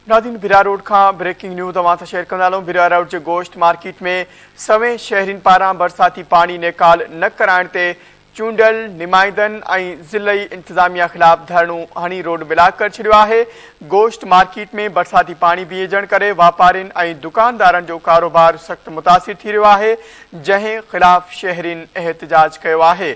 ناظرين ڀرا روڊ کان breaking news اوهان سان شيئر ڪندا هلون ڀرا روڊ جي گوشت مارڪيٽ ۾ سوين شهرين پاران برساتي پاڻي نيڪال نه ڪرائڻ تي چونڊيل نمائندن ۽ ضلعي انتظاميا خلاف ڌرڻو هڻي روڊ بلاڪ ڪري ڇڏيو آهي گوشت مارڪيٽ ۾ برساتي پاڻي بيهجڻ ڪري واپارين ۽ دڪاندارن جو ڪاروبار سخت متاثر ٿي رهيو آهي جنهن خلاف شهرين احتجاج ڪيو آهي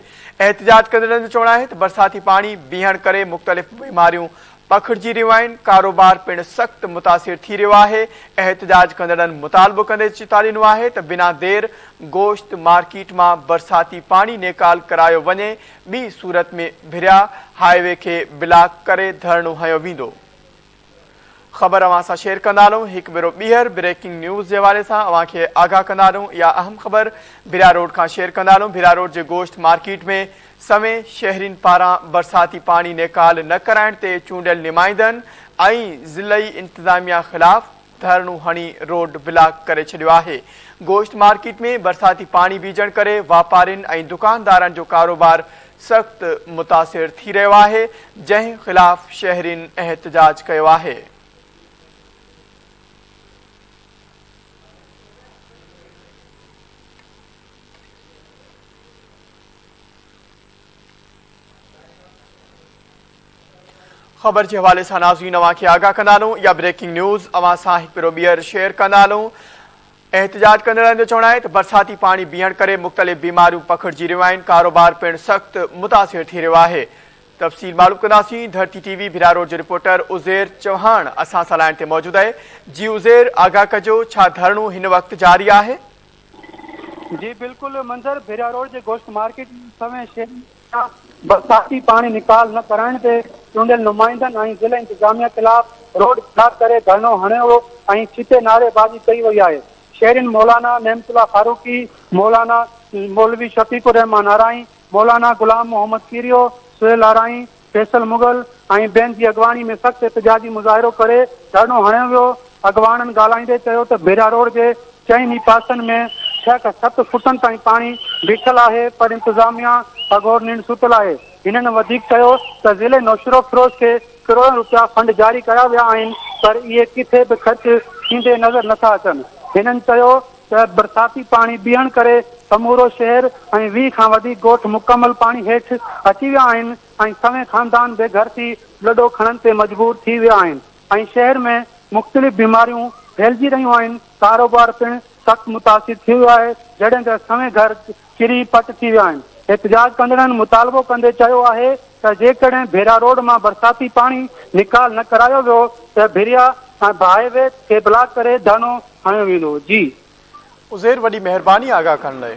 احتجاج ڪندڙن جو چوڻ آهي ته برساتي پاڻي بيهڻ ڪري مختلف بيماريون پکڙجي رهيون آهن، ڪاروبار پڻ سخت متاثر ٿي رهيو آهي، احتجاج ڪندڙن مطالبو ڪندي چتاڙينو آهي ته بنا دير گوشت مارڪيٽ مان برساتي پاڻي نيڪال ڪرايو وڃي ٻي صورت ۾ ڀريا هاء وي کي بلاڪ ڪري ڌرڻو هنيو ويندو. خبر اوهان سان شيئر ڪندا رهون هڪ ڀيرو ٻيهر بريڪنگ نيوز جي حوالي سان اوهان کي آگاهه ڪندا رهون اها اهم خبر ڀريا روڊ کان شيئر ڪندا رهون ڀريا روڊ جي گوشت مارڪيٽ ۾ سوين شهرين پاران برساتي پاڻي نيڪال نه ڪرائڻ تي چونڊيل نمائندن ۽ ضلعي انتظاميا خلاف ڌرڻو هڻي روڊ بلاڪ ڪري ڇڏيو آهي، گوشت مارڪيٽ ۾ برساتي پاڻي بيهجڻ ڪري واپارين ۽ دڪاندارن جو ڪاروبار سخت متاثر ٿي رهيو آهي، جنهن خلاف شهرين احتجاج ڪيو آهي. خبر جي حوالي سان ناظرين اوهان کي آگاهه ڪندا هلون يا بريڪنگ نيوز اوهان سان هڪ ڀيرو ٻيهر شيئر ڪندا هلون احتجاج ڪندڙن جو چوڻ آهي ته برساتي پاڻي بيهڻ ڪري مختلف بيماريون پکڙجي رهيون آهن ڪاروبار پڻ سخت متاثر ٿي رهيو آهي تفصيل معلوم ڪنداسين Dharti T V Bhiria road جو رپورٽر عزير چوهاڻ اسان سان لائن تي موجود آهي جي عزير آگاهه ڪجو ڇا ڌرڻو هن وقت جاري آهي جي بلڪل منظر ڀيريا روڊ جي گوشت مارڪيٽ سوين شيرين مان برساتي پاڻي نيڪال نه ڪرائڻ تي چونڊيل نمائندن ۽ ضلعي انتظاميه خلاف روڊ بلاڪ ڪري ڌرڻو هڻيو ويو ۽ ڇتي نعري بازي ڪئي وئي آهي شيرين مولانا نعمت الله فاروقي مولانا مولوي شفيق الرحمان آرائين مولانا غلام محمد ڪيريو سهيل آرائين فيصل مغل ۽ ٻين جي اڳواڻي ۾ سخت احتجاجي مظاهرو ڪري ڌرڻو هڻيو ويو، اڳواڻن ڳالهائيندي چيو ته ڀيرا روڊ جي چئن ئي پاسن ۾ ڇهه کان ست فوٽن تائين پاڻي بيٺل آهي پر انتظاميا اگهور ننڊ ستل آهي، هنن وڌيڪ چيو ته ضلعي نوشهروفيروز کي ڪروڙن روپيا فنڊ جاري ڪيا ويا آهن پر اهي ڪٿي به خرچ ٿيندي نظر نٿا اچن، هنن چيو. ته برساتي پاڻي بيهڻ ڪري سمورو شهر ۽ ويهه کان وڌيڪ ڳوٺ مڪمل پاڻي هيٺ اچي ويا آهن ۽ سوين خاندان بي گهر ٿي لڏو کڻڻ تي مجبور ٿي ويا آهن ۽ شهر ۾ مختلف بيماريون ڦهلجي رهيون آهن ڪاروبار پڻ سخت متاثر ٿي ويو آهي جڏهن ته سوين گهر ڪري پٽ ٿي ويا آهن. احتجاج ڪندڙن مطالبو ڪندي چيو آهي ته جيڪڏهن ڀيرا روڊ مان برساتي پاڻي نيڪال نه ڪرايو ويو ته ڀيرا ۽ هاء وي کي بلاڪ ڪري ڌرڻو هنيو ويندو. جي. عزير وڏي مهرباني آگاهه ڪرڻ لئي.